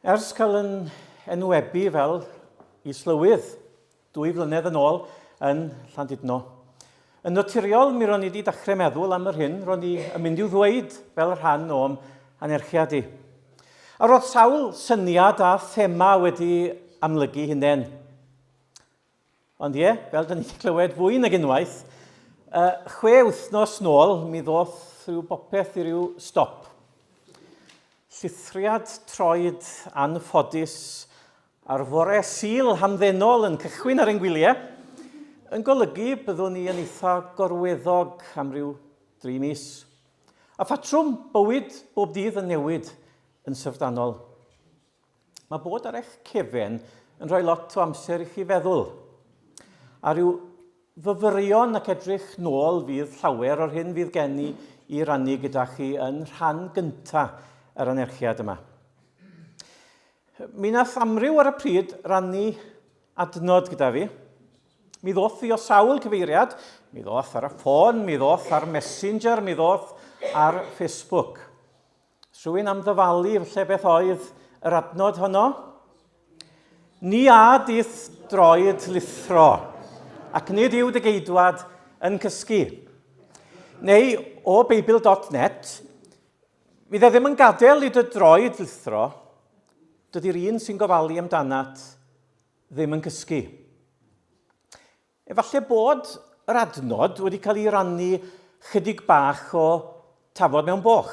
Ers cael yn enwebu fel Islywydd dwy flynedd yn ôl yn Llandudno. Yn naturiol, mi ro'n i wedi dechrau meddwl am yr hyn ro'n i yn mynd i'w ddweud fel rhan o'm anerchiad i. A roedd sawl syniad a thema wedi amlygu hunain. Ond ie, fel dyn ni wedi clywed fwy nag unwaith, uh, chwe wythnos nôl mi ddoth rhyw bopeth i ryw stop. Llithriad troed anffodus ar fore sil hamddenol yn cychwyn ar ein gwyliau, yn golygu byddwn ni yn eitha gorweddog am ryw dri mis. A phatrwm bywyd bob dydd yn newid yn syfrdanol. Mae bod ar eich cefen yn rhoi lot o amser i chi feddwl. A rhyw fyfyrion ac edrych nôl fydd llawer o'r hyn fydd gen i i rannu gyda chi yn rhan gyntaf yr anerchiad yma. Mi nath amryw ar y pryd rannu adnod gyda fi. Mi ddoth i o sawl cyfeiriad, mi ddoth ar y ffôn, mi ddoth ar Messenger, mi ddoth ar Facebook. Rwy'n am ddyfalu lle beth oedd yr adnod honno. Ni a dith droed lithro, ac nid yw dy geidwad yn cysgu. Neu o Beibl.net, fydd e ddim yn gadael i dy droed lithro, dydy'r un sy'n gofalu amdanat ddim yn cysgu. Efallai bod yr adnod wedi cael ei rannu chydig bach o tafod mewn boch.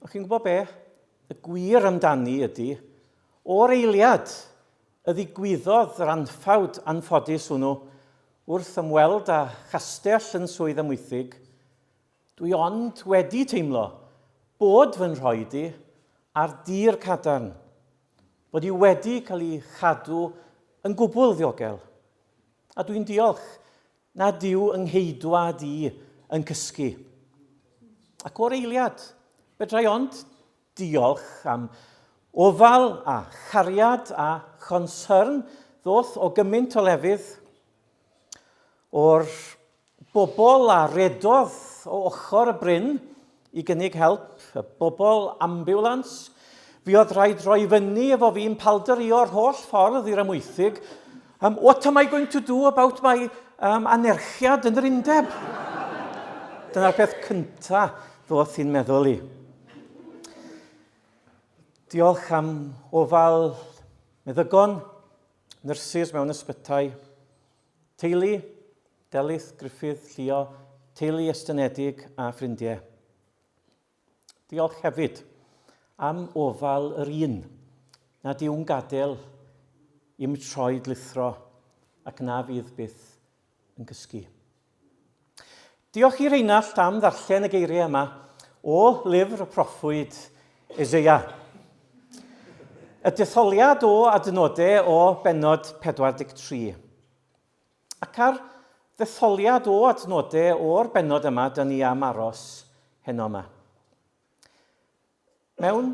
Ond chi'n gwybod be? Y gwir amdani ydy, o'r eiliad y ddigwyddodd yr anffawd anffodus hwnnw, wrth ymweld â chastell yn Swydd Amwythig, Dwi ond wedi teimlo bod fy nhroed i ar dir cadarn, bod i wedi cael ei chadw yn gwbl ddiogel, a dwi'n diolch nad yw yng ngheidwad i yn cysgu. Ac o'r eiliad, fedrai ond Diolch am ofal a chariad a chonsyrn ddoth o gymint o lefydd o'r bobl a redodd o ochr y bryn i gynnig help, y bobl ambiwlans. Fi oedd rhaid roi fyny efo fi'n paldario yr holl ffordd i'r Amwythig Um, what am I going to do about my um, anerchiad yn yr undeb? Dyna'r peth cynta ddoth i'n meddwl i. Diolch am ofal meddygon, nyrsys mewn ysbytai, teulu, Delyth, Griffith, Llio, teulu estynedig a ffrindiau. Diolch hefyd am ofal yr un nad yw'n gadael i'm troed lithro ac na fydd byth yn gysgu. Diolch i Reinald am ddarllen y geiriau yma o lyfr y proffwyd Ezeia. Y detholiad o adnodau o benod 43. Ac ar ddetholiad o adnode o'r bennod yma, dyn ni am aros heno yma. Mewn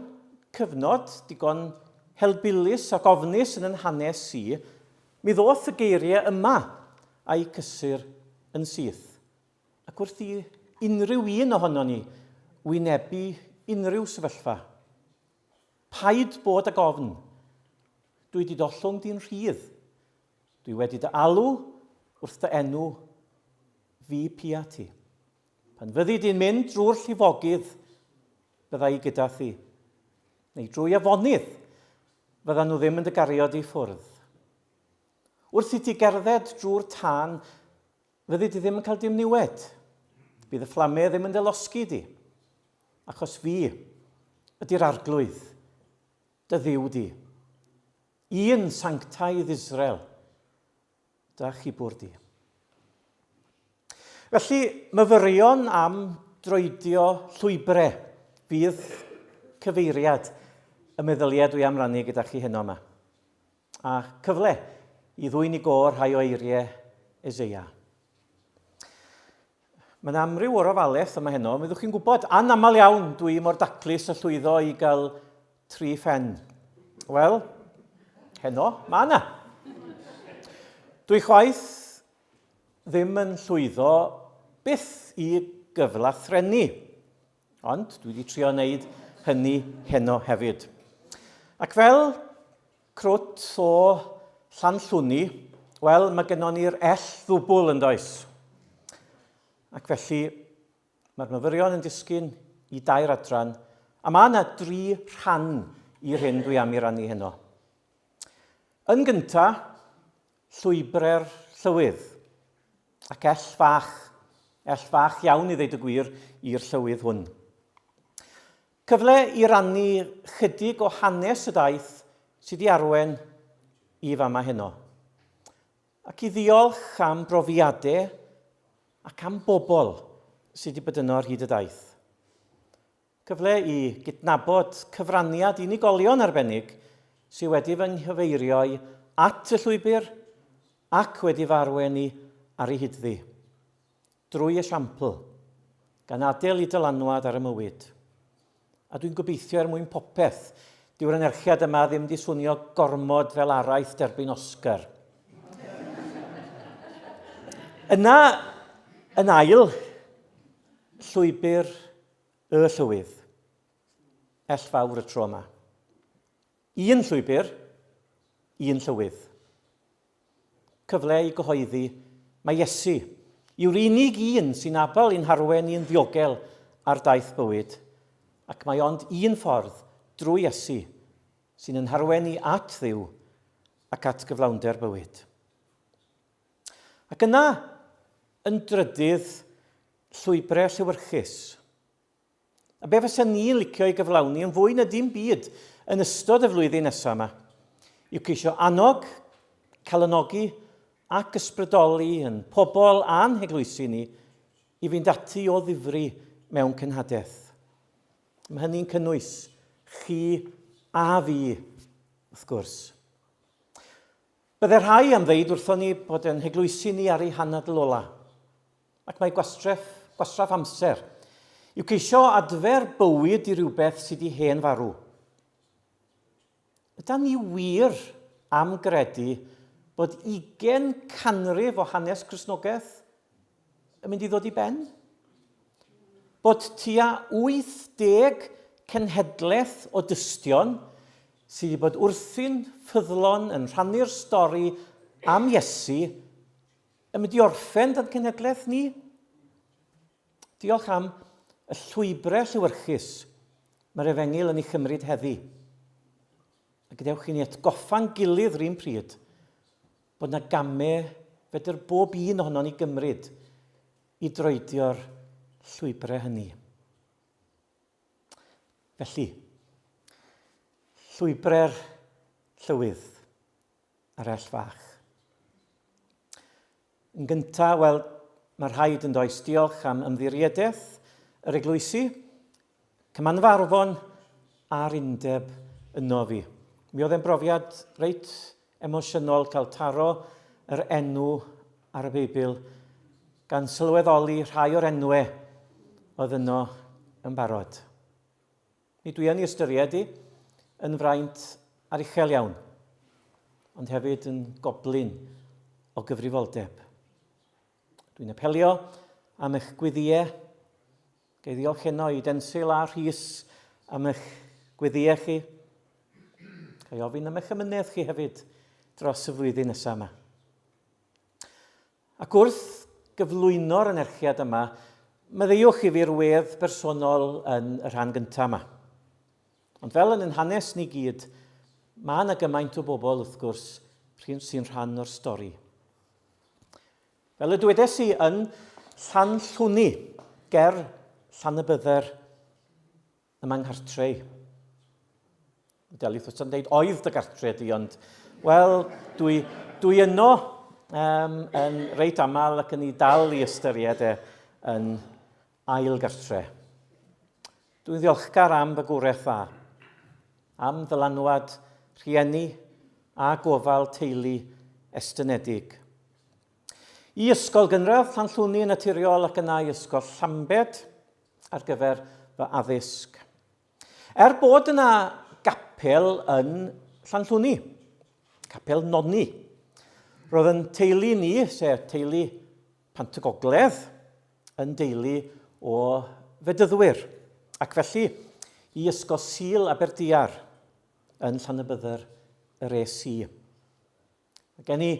cyfnod digon helbulus ac ofnus yn yn hanes i, mi ddoth y geiriau yma a'i cysur yn syth. Ac wrth i unrhyw un ohono ni wynebu unrhyw sefyllfa, paid bod ag ofn, dwi di dollwng di'n rhydd, Dwi wedi dy alw wrth dy enw fi pia ti. Pan fyddi di'n mynd drwy'r llifogydd, bydda i gyda thi. Neu drwy afonydd, fydda nhw ddim yn dy gario di ffwrdd. Wrth i ti gerdded drwy'r tân, fyddi di ddim yn cael dim niwed. Bydd y fflamau ddim yn delosgi di. Achos fi ydy'r arglwydd. Dy Dduw di. Un sanctaidd Israel, da chibwr di. Felly, myfyrion am droedio llwybrau fydd cyfeiriad y meddyliau dwi am rannu gyda chi heno yma. A cyfle i ddwy'n i gor rhai o eiriau Ezeia. Mae'n amryw o'r ofalaeth yma heno, mi ddwch chi'n gwybod, anaml iawn dwi mor daclus y llwyddo i gael tri phen. Wel, heno, mae yna. Dwi chwaith ddim yn llwyddo byth i gyflathrennu, ond dwi wedi trio wneud hynny heno hefyd. Ac fel Crwt o Llanllwni, wel, mae gennon ni'r ell ddwbl yn does? Ac felly, mae'r myfyrion yn disgyn i dair adran, a mae yna dri rhan i'r hyn dwi am i rannu heno. Yn gynta, llwybre'r llywydd, ac ell fach, ell fach iawn i ddeud y gwir i'r llywydd hwn. Cyfle i rannu chydig o hanes y daith sy di arwen i fama heno. Ac i ddiolch am brofiade ac am bobl sy di bod yno ar hyd y daith. Cyfle i gydnabod cyfraniad unigolion arbennig sy wedi fy nghyfeirio i at y llwybr ac wedi fy arwen i ar ei hyd ddi. drwy esiampl, gan adel i dylanwad ar y mywyd. A dwi'n gobeithio er mwyn popeth, dyw'r anerchiad yma ddim di swnio gormod fel araith derbyn Oscar. Yna, yn ail, llwybr y llywydd. Ell fawr y tro yma. Un llwybr, un llywydd. Cyfle i gyhoeddi mai Iesu yw'r unig un sy'n abl i'n harwen ni'n ddiogel ar daith bywyd, ac mae ond un ffordd, drwy Iesu, sy'n yn harwen ni at Dduw ac at gyflawnder bywyd. Ac yna, yn drydydd, llwybrau lliwyrchus. A be fysen ni'n licio ei gyflawni yn fwy na dim byd yn ystod y flwyddyn nesaf yma yw ceisio annog, calonogi ac ysbrydoli yn pobl a'n heglwysi ni i fynd ati o ddifri mewn cenhadaeth. Mae hynny'n cynnwys chi a fi, wrth gwrs. Bydde rhai am ddeud wrthon ni bod yn heglwysi ni ar ei hanadl ola. Ac mae gwastref, gwastraff amser, yw ceisio adfer bywyd i rywbeth sydd wedi hen farw. Yda ni wir am gredu bod ugen canrif o hanes Cristnogaeth yn mynd i ddod i ben? Bod tua 80 cenhedlaeth o dystion sydd wedi bod wrthi'n ffyddlon yn rhannu'r stori am Iesu Am ydi orffen dan cenhedlaeth ni? Diolch am y llwybrau lliwyrchus mae'r efengyl yn ei chymryd heddi. A gadewch i ni atgoffa'n gilydd rhywun pryd bod yna gamau fedr bob un ohono ni gymryd i droedio'r llwybrau hynny. Felly, llwybrau'r llywydd. arall fach. Yn gyntaf, wel, mae rhaid yn does diolch am ymddiriedeth yr eglwysi, cymanfarfon a'r undeb yno fi. Mi oedd e'n brofiad reit emosiynol cael taro yr enw ar y Beibl gan sylweddoli rhai o'r enwau oedd yno yn barod. Mi dwi yn ei ystyried hi yn fraint ar uchel iawn, ond hefyd yn goblyn o gyfrifoldeb. Dwi'n apelio am eich gwyddie, gei ddiolch heno i Densil a Rhys am eich gwyddie chi. Gai ofyn am eich ymynedd chi hefyd dros y flwyddyn nesaf yma. Ac wrth gyflwyno'r anerchiad yma, maddeuwch i fi'r wedd bersonol yn y rhan gyntaf yma. Ond fel yn ein hanes ni gyd, mae yna gymaint o bobl, wrth gwrs, sy'n rhan o'r stori. Fel y dwedes i yn Llanllwni, ger Llanybydder, Ym mae nghartre i. Delyth wrth yn dweud, oedd dy gartre di, ond, wel, dwi, dwi yno um, yn reit aml ac yn ei dal i ystyried e yn ail gartre. Dwi'n ddiolchgar am fy gwreth dda, am ddylanwad rhieni a gofal teulu estynedig. I Ysgol Gynradd Llanllwni yn naturiol ac yna i Ysgol Llambed ar gyfer fy addysg. Er bod yna gapel yn Llanllwni, capel Nonni, roedd yn teulu ni, sef teulu Pant y Gogledd, yn deulu o fedyddwyr, ac felly i Ysgol Sul Aberdiar yn Llanybydder yr es i. Mae gen i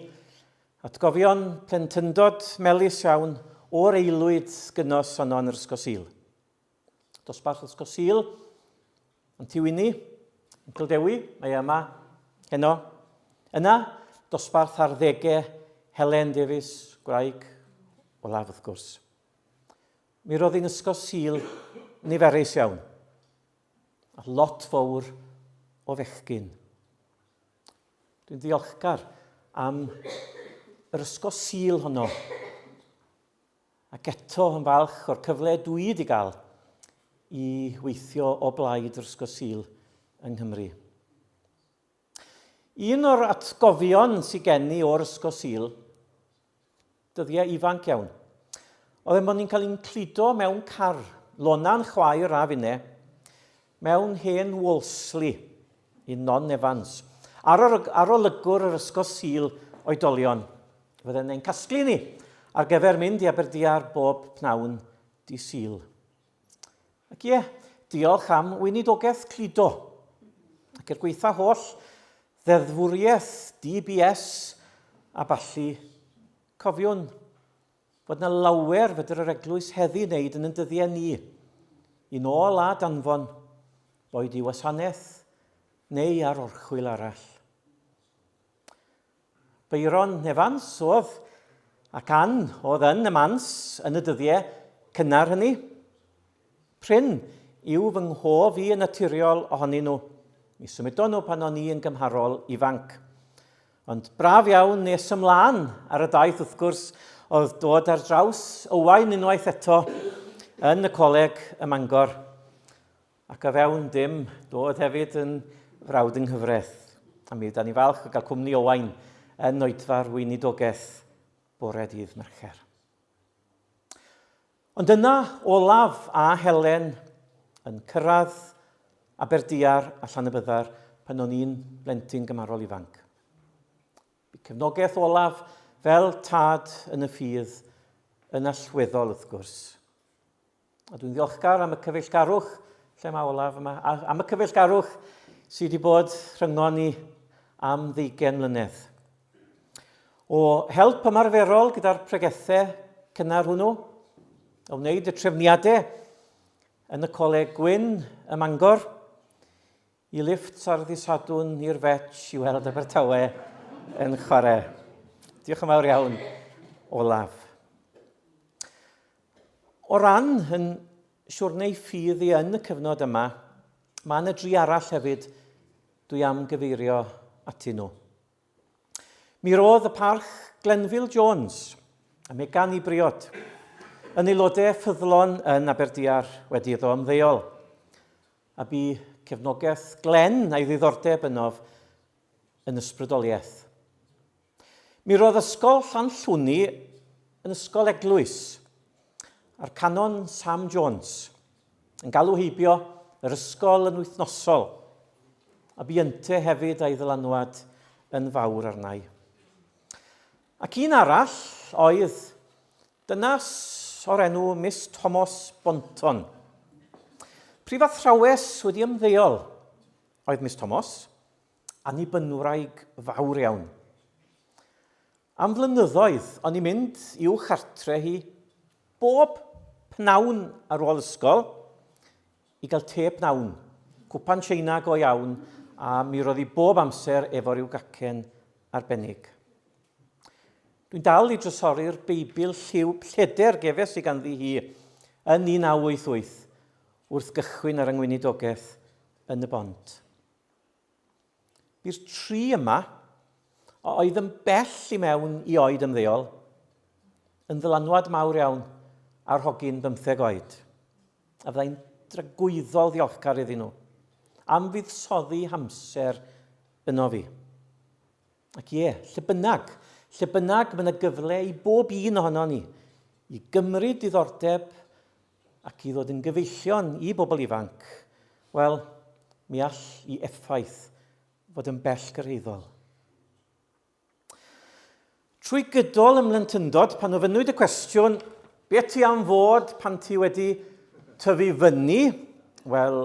atgofion plentyndod melus iawn o'r eilwyd gynos honno yn yr Ysgol Sul. Dosbarth Ysgol Sul, yn Tiwini, yn Cildewi, mae e yma, heno. Yna, dosbarth ar ddegau Helen Davies, gwraig olaf wrth gwrs. Mi roedd hi'n Ysgol Sul niferus iawn, a lot fawr o fechgyn. Dwi'n ddiolchgar am yr ysgo sil honno. Ac eto yn falch o'r cyfle dwi wedi gael i weithio o blaid yr ysgo sil yng Nghymru. Un o'r atgofion sy'n gen i o'r ysgo sil Dyddiau ifanc iawn. Oedd e mod ni'n cael ein cludo mewn car, Lona'n chwaer a finne, mewn hen Wolseley i Non Evans. Ar, ar olygwr yr ysgol sil oedolion, fydden ein casglu ni ar gyfer mynd i Aberdiar bob pnawn di sil. Ac ie, diolch am weinidogaeth cludo. Ac er gweitha holl ddeddfwriaeth, DBS a ballu, cofiwn fod na lawer fedr yr eglwys heddi wneud yn yn dyddiau ni, i nôl a danfon, boed i wasanaeth neu ar orchwyl arall. Byron Evans oedd, ac Ann oedd yn y Mans yn y dyddiau cynnar hynny. Prin yw fy nghof i yn naturiol ohonyn nhw. Mi symudon nhw pan o'n i yn gymharol ifanc. Ond braf iawn nes ymlaen ar y daith wrth gwrs oedd dod ar draws Owain unwaith eto yn y coleg ym Mangor. Ac a fewn dim, doedd hefyd yn frawd yng nghyfraith. A mi ydan ni'n falch o gael cwmni Owain yn oedfa'r weinidogaeth bore dydd Mercher. Ond yna, Olaf a Helen yn cyrraedd Aberdiar a Llanybydder pan o'n i'n blentyn gymarol ifanc. Bu cefnogaeth Olaf fel tad yn y ffydd yn allweddol wrth gwrs. A dwi'n ddiolchgar am y cyfeillgarwch, lle mae Olaf yma, am y cyfeillgarwch sydd wedi bod rhyngon ni am ddeugen mlynedd. O help ymarferol gyda'r pregethau cynnar hwnnw, o wneud y trefniadau yn y Coleg Gwyn ym Mangor, Y lifft ar ddi Sadwrn i'r Fetch i weld Abertawe yn chwarae. Diolch yn fawr iawn, Olaf. O ran yn siwrneu ffydd i yn y cyfnod yma, mae yna dri arall hefyd dwi am gyfeirio atyn nhw. Mi roedd y parch Glenville Jones a Megan i briod yn aelodau ffyddlon yn Aberdiar wedi iddo ymddeol. A bu cefnogaeth Glenn a'i ddiddordeb ynof yn ysbrydoliaeth. Mi roedd Ysgol Llanllwni yn ysgol eglwys, a'r Canon Sam Jones yn galw heibio yr ysgol yn wythnosol, a bu ynte hefyd a'i ddylanwad yn fawr arnau. Ac un arall oedd Dynas o'r enw Miss Tomos Bonton. Prifathrawes wedi ymddeol oedd Miss Tomos, Annibynwraig fawr iawn. Am flynyddoedd o'n i'n mynd i'w chartre hi bob pnawn ar ôl ysgol i gael te pnawn, cwpan Tsieina go iawn a mi roedd hi bob amser efo rhyw gacen arbennig. Dwi'n dal i drysori'r Beibl lliw plleder gefes i ganddi hi yn 1988 wrth gychwyn ar yngweinidogaeth yn y bont. Bu'r tri yma, a oedd yn bell i mewn i oed ymddeol, yn ddylanwad mawr iawn ar hogyn bymtheg oed, a fyddai'n dragwyddol ddiolchgar iddyn nhw am fuddsoddi hamser yno fi. Ac ie, lle bynnag, lle bynnag mae yna gyfle i bob un ohono ni i gymryd diddordeb ac i ddod yn gyfeillion i bobl ifanc, wel, mi all i effaith fod yn bell gyrhaeddol. Trwy gydol ym mhlentyndod, pan ofynnwyd y cwestiwn, be ti am fod pan ti wedi tyfu fyny? Wel,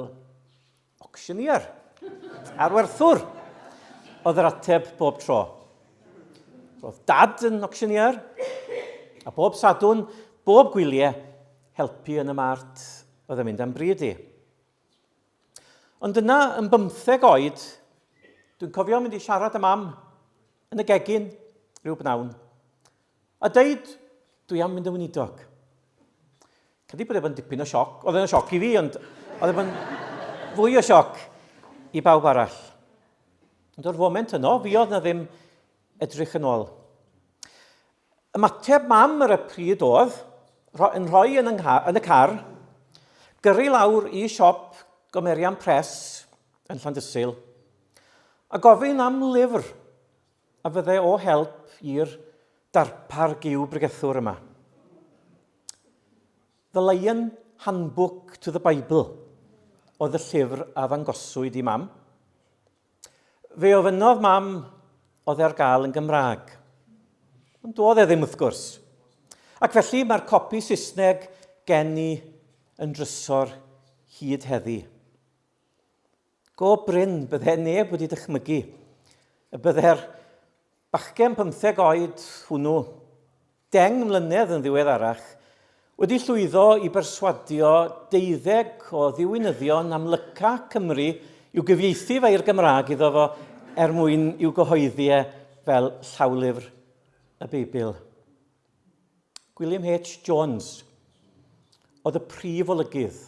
Ocsiynïer! Arwerthwr! oedd yr ateb bob tro. Roedd dad yn ocsiynïer, a bob sadwn, bob gwyliau, helpu yn y mart oedd yn mynd am bryd i. Ond yna, yn bymtheg oed, dwi'n cofio mynd i siarad am am yn y gegin rhyw bnawn. A deud, dwi am mynd yn weinidog. Credu bod e bod yn dipyn o sioc. Oedd e'n sioc i fi, ond oedd e bod yn fwy o sioc i bawb arall. Ond o'r foment yno, fi oedd na ddim edrych yn ôl. Ymateb mam ar y pryd oedd, yn rhoi yn, yn y car, gyrru lawr i siop gomerian pres yn Llandysul, a gofyn am lyfr A fydde o help i'r darpar gyw bregethwr yma. The Lion Handbook to the Bible oedd y llyfr a ddangoswyd i mam. Fe ofynnodd mam oedd e ar gael yn Gymraeg. Ond doedd e ddim wrth gwrs. Ac felly mae'r copi Saesneg gen i yn drysor hyd heddi. Go brin, bydde neb wedi dychmygu y bydde'r bachgen pymtheg oed hwnnw, deng mlynedd yn ddiweddarach, wedi llwyddo i berswadio deuddeg o ddiwinyddion amlyca Cymru i'w gyfieithu fe i'r Gymraeg iddo fo er mwyn i'w gyhoeddi e fel llawlyfr y Beibl. Gwilym H. Jones oedd y prif olygydd.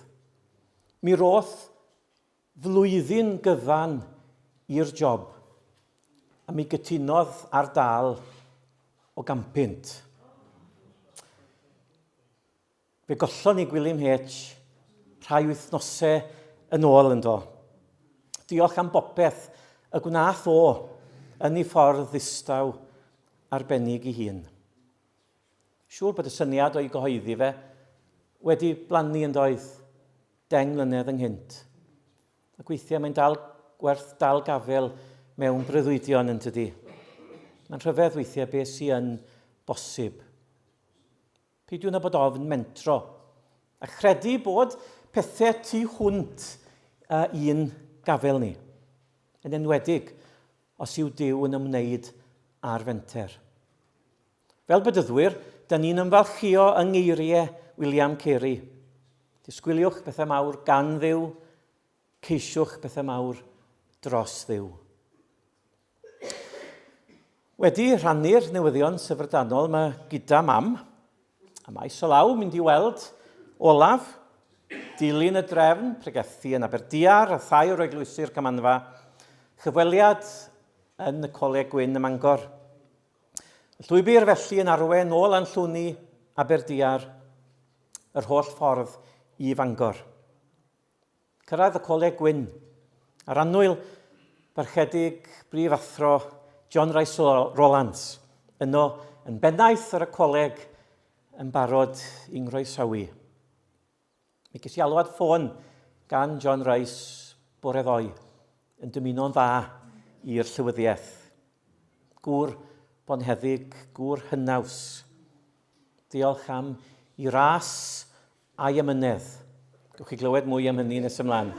Mi roth Flwyddyn gyfan i'r job, a mi gytunodd ar dâl o gampynt. Fe gollon ni Gwilym H rhai wythnosau yn ôl ynddo. Diolch am bopeth y gwnaeth o yn ei ffordd ddistaw arbennig ei hun. Siŵr bod y syniad o'i gyhoeddi fe wedi blannu yndoedd? 10 mlynedd ynghynt. Ac weithiau mae'n dal werth dal gafel mewn breuddwydion yn tydi. Mae'n rhyfedd weithiau beth sy'n yn bosib. Peidiwn â bod ofn mentro a chredu bod pethau tu hwnt uh, i'n gafel ni. Yn enwedig os yw Dyw yn ymwneud â'r fenter. Fel bedyddwyr, dyn ni'n ymfalchïo yng ngeiriau William Carey. Disgwyliwch bethau mawr gan ddiw, ceisiwch bethau mawr dros ddiw. Wedi rhannu'r newyddion syfrdanol yma gyda mam, a mae Solaw mynd i weld Olaf, dilyn y drefn, pregethu yn Aberdiar a thai o'r eglwysi'r Camanfa, chyfweliad yn y Coleg Gwyn ym Mangor. Llwybr felly yn arwain nôl An Llwni, Aberdiar, yr holl ffordd i Fangor. Cyrraedd y Coleg Gwyn, a'r annwyl barchedig brif athro John Rice Rolands, yno yn bennaeth ar y coleg yn barod i'n nggroesawu. Mi ges i alwad ffôn gan John Rice bore ddoe yn dymuno'n dda i'r llywyddiaeth. Gŵr bonheddig, gŵr hynaws. Diolch am i ras a'i amynedd. Gwch chi glywed mwy am hynny nes ymlaen.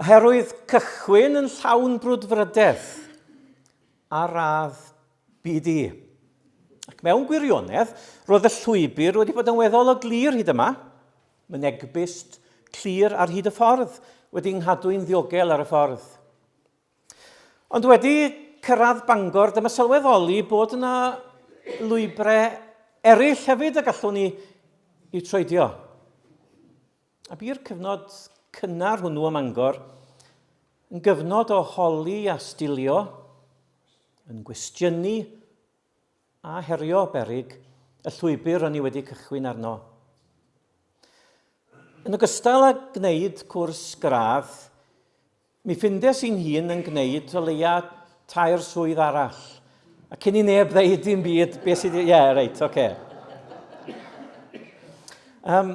Oherwydd cychwyn yn llawn brwdfrydedd ar radd BD. Ac mewn gwirionedd, roedd y llwybr wedi bod yn weddol o glir hyd yma, mynegbust, clir ar hyd y ffordd, wedi nghadw i'n ddiogel ar y ffordd. Ond wedi cyrraedd Bangor, dyma sylweddoli bod yna lwybrau eraill hefyd y gallwn ni i troedio. A bu'r cyfnod cynnar hwnnw ym Mangor yn gyfnod o holi a stilio, yn gwestiynu a herio berig y llwybr o'n i wedi cychwyn arno. Yn ogystal â gwneud cwrs gradd, Mi ffindes i'n hun yn gwneud o leia tair swydd arall. A cyn i neb ddeud dim byd, beth sydd... Ie, yeah, reit, oce. Okay. Um,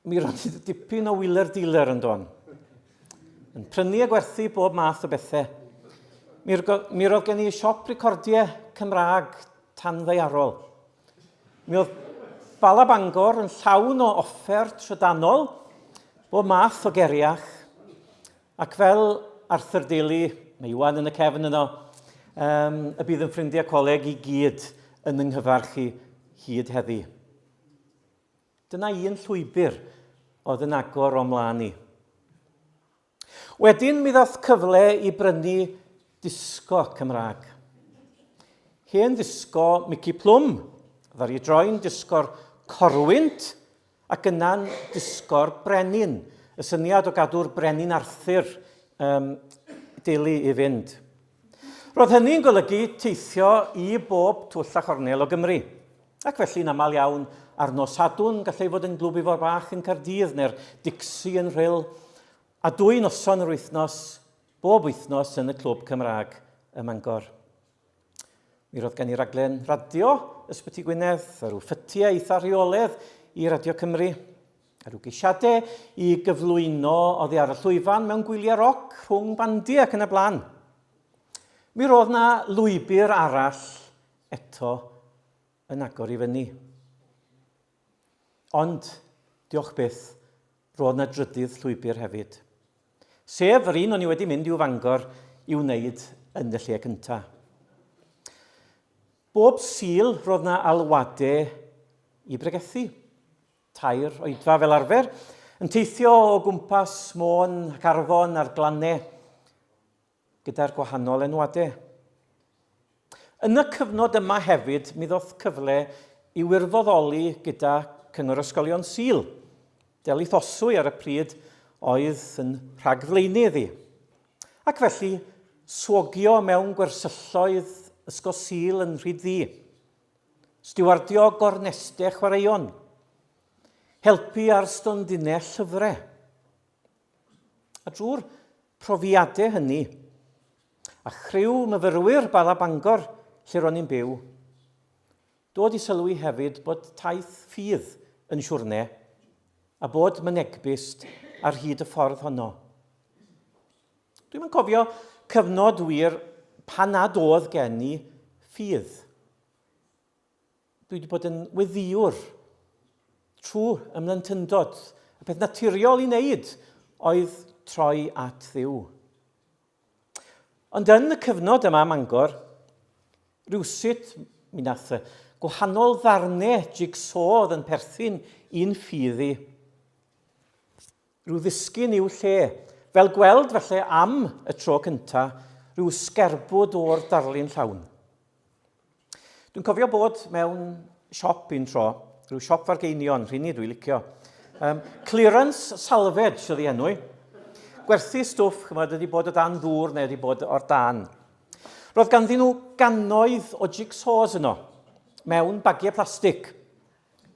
mi roedd ti dipyn o wheeler dealer yn don. Yn prynu a gwerthu bob math o bethau. Mi, mi roedd gen i siop recordiau Cymraeg tan ddeiarol. Mi oedd Bala Bangor yn llawn o offer trydanol, bob math o geriach, ac fel Arthur Daly, mae Iwan yn y cefn yno, um, y bydd yn ffrindiau coleg i gyd yn yng nghyfarch i hyd heddi. Dyna un llwybr oedd yn agor o'm mlaen i. Wedyn mi ddath cyfle i brynu disgo Cymraeg. Hen ddisgo Mici Plwm, ddari droi'n disgo'r corwynt ac yna'n disgo'r brenin. Y syniad o gadw'r brenin Arthur um, deulu i fynd. Roedd hynny'n golygu teithio i bob twll a chornel o Gymru. Ac felly'n aml iawn ar nos Sadwrn gallai fod yn Glwb Ifor Bach yn Caerdydd neu'r Dixie yn Rhyl, a dwy noson yr wythnos, bob wythnos yn y Clwb Cymraeg ym Mangor. Mi roedd gen i raglen radio Ysbyty Gwynedd, a rhyw ffytiau eitha rheoledd i Radio Cymru, a rhyw geisiadau i gyflwyno oddi ar y llwyfan mewn gwyliau roc rhwng bandiau ac yn y blaen. Mi roedd na lwybr arall eto yn agor i fyny. Ond, diolch byth, roedd na drydydd llwybr hefyd. Sef yr un o'n i wedi mynd i'w fangor i wneud yn y lle cyntaf. Bob sil roedd na alwadau i bregethu. Tair oedfa fel arfer, yn teithio o gwmpas môn ac arfon a'r glannau. gyda'r gwahanol enwade. Yn y cyfnod yma hefyd, mi ddoth cyfle i wirfoddoli gyda Cyngor Ysgolion Sul. Delyth Oswy ar y pryd oedd yn rhagflaenydd i. Ac felly, swogio mewn gwersylloedd Ysgol Sul yn rhyd ddi. Stiwardio gorneste chwaraeon. Helpu ar stondinell llyfrau. A drwy'r profiadau hynny, a chriw myfyrwyr Bala Bangor lle ro'n i'n byw, dod i sylwi hefyd bod taith ffydd yn siwrne, a bod mynegbust ar hyd y ffordd honno. Dwi'm yn cofio cyfnod wir pan nad oedd gen i ffydd. Dwi wedi bod yn weddiwr trwy ymlentyndod. Y peth naturiol i wneud oedd troi at ddiw. Ond yn y cyfnod yma Mangor, rhywsut mi nath gwahanol ddarnau jigsaw oedd yn perthyn i'n ffydd i. Rhyw ddisgyn i'w lle. Fel gweld, falle, am y tro cynta, rhyw sgerbwd o'r darlun llawn. Dwi'n cofio bod mewn siop un tro, rhyw siop fargeinion, rhini dwi'n licio. Um, clearance salvage oedd ei enw i. Gwerthu stwff, chymod, ydi bod o dan ddŵr neu ydi bod o'r dan. Roedd ganddyn nhw gannoedd o jigsaws yno, mewn bagiau plastig.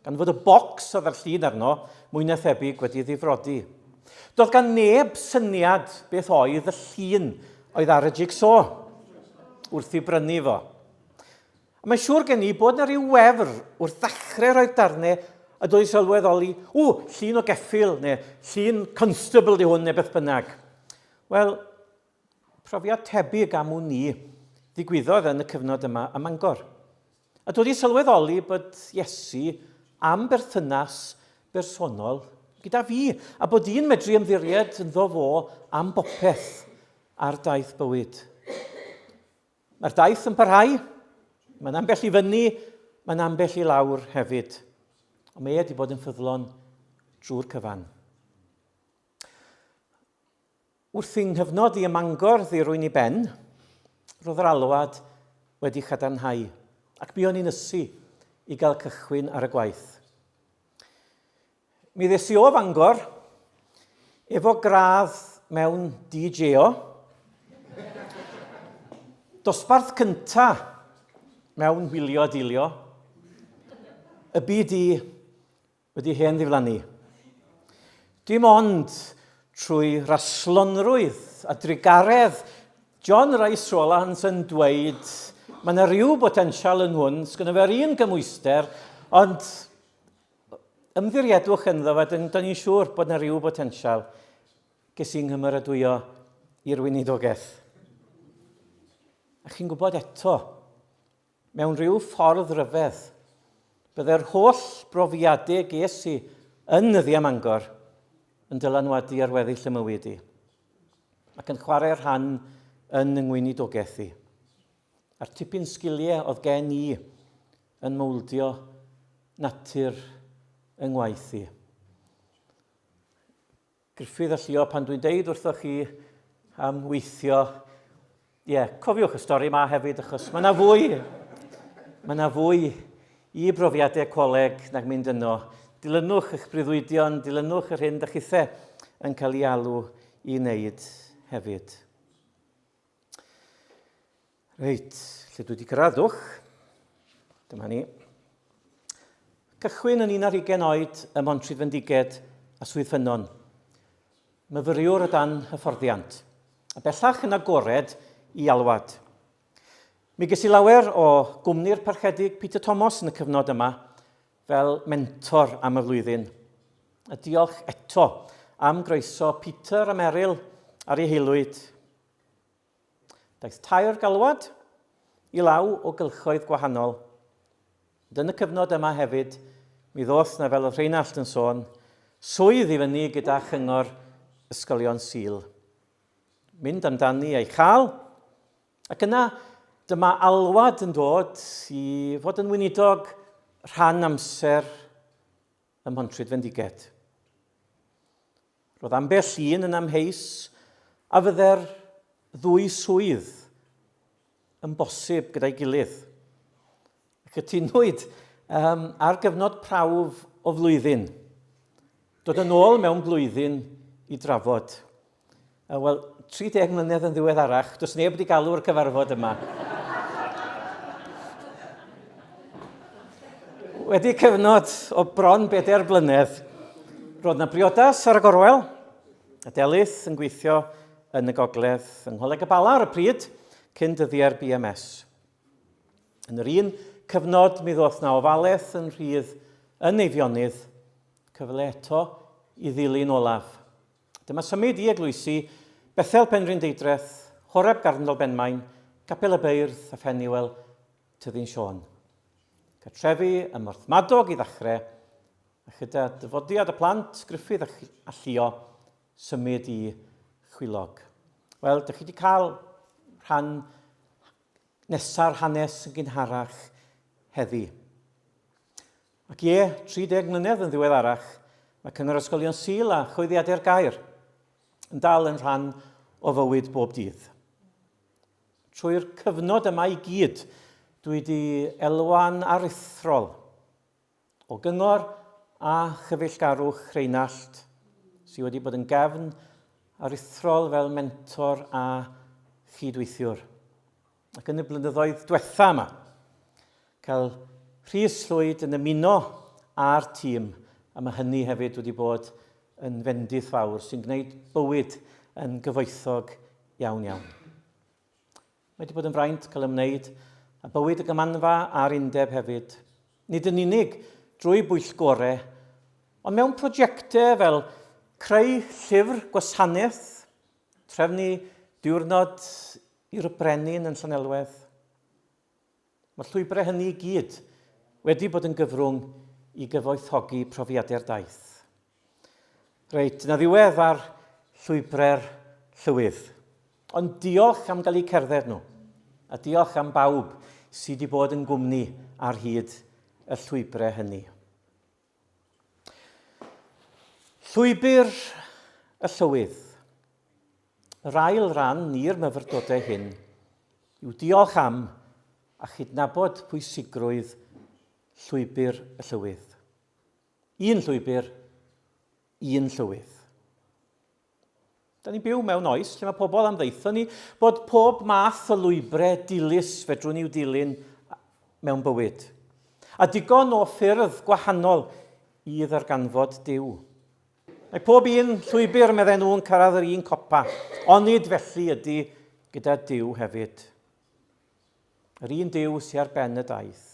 gan fod y bocs oedd â'r llun arno mwy na thebyg wedi ddifrodi. Doedd gan neb syniad beth oedd y llun oedd ar y jigsaw wrth i brynu fo. A mae'n siŵr gen i bod yna rhyw wefr wrth ddechrau rhoi'r darnau y doedd sylweddoli, ww, llun o geffil, neu llun constable di hwn, neu beth bynnag. Wel, profiad tebyg am wn i ddigwyddodd yn y cyfnod yma ym Mangor. A dod i sylweddoli bod Iesu am berthynas bersonol gyda fi, a bod i'n medru ymddiried ynddo fo am bopeth ar daith bywyd. Mae'r daith yn parhau, mae'n ambell i fyny, mae'n ambell i lawr hefyd. Ond mae e wedi bod yn ffyddlon drwy'r cyfan. Wrth i nghyfnod i ym Mangor ddirwyn i ben, roedd yr alwad wedi cadarnhau ac buon ni'n ysu i gael cychwyn ar y gwaith. Mi ddes i o Fangor efo gradd mewn DJO, dosbarth cynta mewn wylio dilio, y BD wedi hen ddiflannu. Dim ond trwy raslonrwydd a drugaredd, John Rice Rowlands yn dweud mae yna rhyw botensial yn hwn, sgynno fe'r un gymwyster, ond ymddiriedwch ynddo fe, dyn ni'n siŵr bod yna rhyw botensial ges i'n nghymeradwyo i'r weinidogaeth. A chi'n gwybod eto, Mewn rhyw ffordd ryfedd, byddai'r holl brofiadau ges i yn nyddiau Mangor yn dylanwadu ar weddill y mywyd i, ac yn chwarae rhan yn yng ngweinidogaeth i, a'r tipyn sgiliau oedd gen i yn mowldio natur yng ngwaith i. Gruffydd a llio pan dwi'n deud wrthoch chi am weithio. Ie, yeah, cofiwch y stori yma hefyd, achos mae yna fwy, mae yna fwy i brofiadau coleg nag mynd yno. Dilynwch eich breuddwydion, dilynwch yr hyn da chithe yn cael ei alw i wneud hefyd. Reit, lle dwi wedi graddwch. Dyma ni. Cychwyn yn un ar ugen oed ym Mhontrhydd Fendiged a Swydd Ffynnon. Myfyriwr o dan hyfforddiant, a bellach yn agored i alwad. Mi ges i lawer o gwmni'r parchedig Peter Thomas yn y cyfnod yma fel mentor am y flwyddyn. A diolch eto am groeso Peter a Meryl ar ei heilwyd. Daeth tair galwad i law o gylchoedd gwahanol. Ond yn y cyfnod yma hefyd, mi ddoth na fel oedd Rheinallt yn sôn, swydd i fyny gyda chyngor ysgolion Sul. Mynd amdani a'i chael, ac yna dyma alwad yn dod i fod yn weinidog rhan amser ym Mhontrhyd Fendigaid. Roedd ambell un yn amheus a fydde'r ddwy swydd yn bosib gyda'i gilydd. Cytunwyd um, ar gyfnod prawf o flwyddyn. Dod yn ôl mewn blwyddyn i drafod. Uh, Wel, 30 mlynedd yn ddiweddarach, does neb wedi galw'r cyfarfod yma. wedi cyfnod o bron bedair blynedd, roedd na briodas ar y gorwel, a Delyth yn gweithio yn y gogledd yng Ngholeg y Bala ar y pryd, cyn dyddiau'r BMS. Yn yr un cyfnod, mi ddoth na ofalaeth yn rhydd yn Eifionydd, cyfle eto i ddilyn olaf. Dyma symud i eglwysi Bethel Penrhyn Deidreth, Horeb Garndol Benmaen, Capel y Beirdd a Pheniwel, Tyddyn Siôn. Cartrefi ym Morthmadog i ddechrau, a chyda dyfodiad y plant, Gruffydd a, a Llio, symud i Chwilog. Wel, dych chi wedi cael rhan nesaf hanes yn gynharach heddi. Ac ie, 30 mlynedd yn ddiweddarach, mae Cyngor Ysgolion Sul a Chwyddiadau'r Gair yn dal yn rhan o fywyd bob dydd. Trwy'r cyfnod yma i gyd, dwi wedi elwa'n aruthrol o gyngor a chyfeillgarwch Rheinald, sydd wedi bod yn gefn aruthrol fel mentor a chydweithiwr. Ac yn y blynyddoedd diwetha yma, cael Rhys Llwyd yn ymuno â'r tîm, a mae hynny hefyd wedi bod yn fendith fawr sy'n gwneud bywyd yn gyfoethog iawn iawn. Mae wedi bod yn fraint cael ymwneud a bywyd y gymanfa a'r undeb hefyd, nid yn unig drwy bwyllgore, ond mewn prosiectau fel creu llyfr gwasanaeth Trefnu diwrnod i'r brenin yn Llanelwedd. Mae'r llwybrau hynny i gyd wedi bod yn gyfrwng i gyfoethogi profiadau'r daith. Reit, na ddiwedd ar llwybrau'r llywydd. Ond diolch am gael eu cerdded nhw, a diolch am bawb sydd wedi bod yn gwmni ar hyd y llwybrau hynny. Llwybr y Llywydd. Yr ail ran i'r myfyrdodau hyn yw diolch am a chydnabod pwysigrwydd Llwybr y Llywydd. Un llwybr, un llywydd. Da ni'n byw mewn oes lle mae pobl am ddeitho ni bod pob math o lwybrau dilys fedrwn i'w dilyn mewn bywyd. A digon o ffyrdd gwahanol i ddarganfod Dyw. Mae pob un llwybr, meddai nhw, yn cyrraedd yr un copa, onid felly ydy gyda Dyw hefyd. Yr un Dyw sy'n ar ben y daith.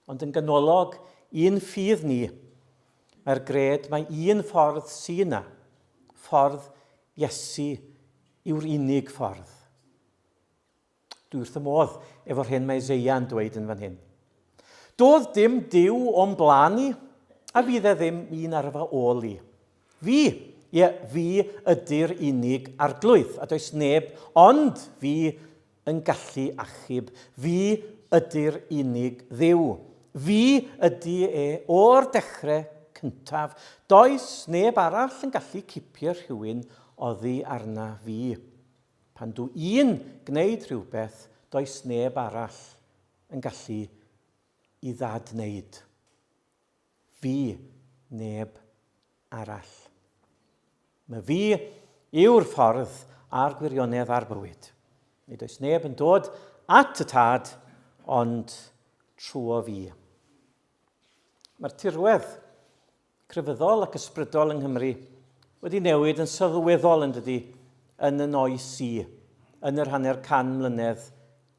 Ond yn ganolog i'n ffydd ni, mae'r gred mae un ffordd sy yna, ffordd Iesu yw'r unig ffordd. Dwi wrth y modd efo'r hyn mae Isaiah yn dweud yn fan hyn. Doedd dim Dyw o'n blaen i, a fydd e ddim un ar fy ôl i. Fi, ie, fi ydy'r unig Arglwydd, a does neb ond fi yn gallu achub. Fi ydy'r unig Dduw. Fi ydy e o'r dechrau cyntaf. Does neb arall yn gallu cipio rhywun oddi arna fi. Pan dw i'n gwneud rhywbeth, does neb arall yn gallu i ddad-wneud. Fi, neb arall. Mae fi yw'r ffordd a'r gwirionedd a'r bywyd. Nid oes neb yn dod at y tad ond trwyo fi. Mae'r tirwedd crefyddol ac ysbrydol yng Nghymru wedi newid yn sylweddol yn dydy yn y noes i yn yr hanner can mlynedd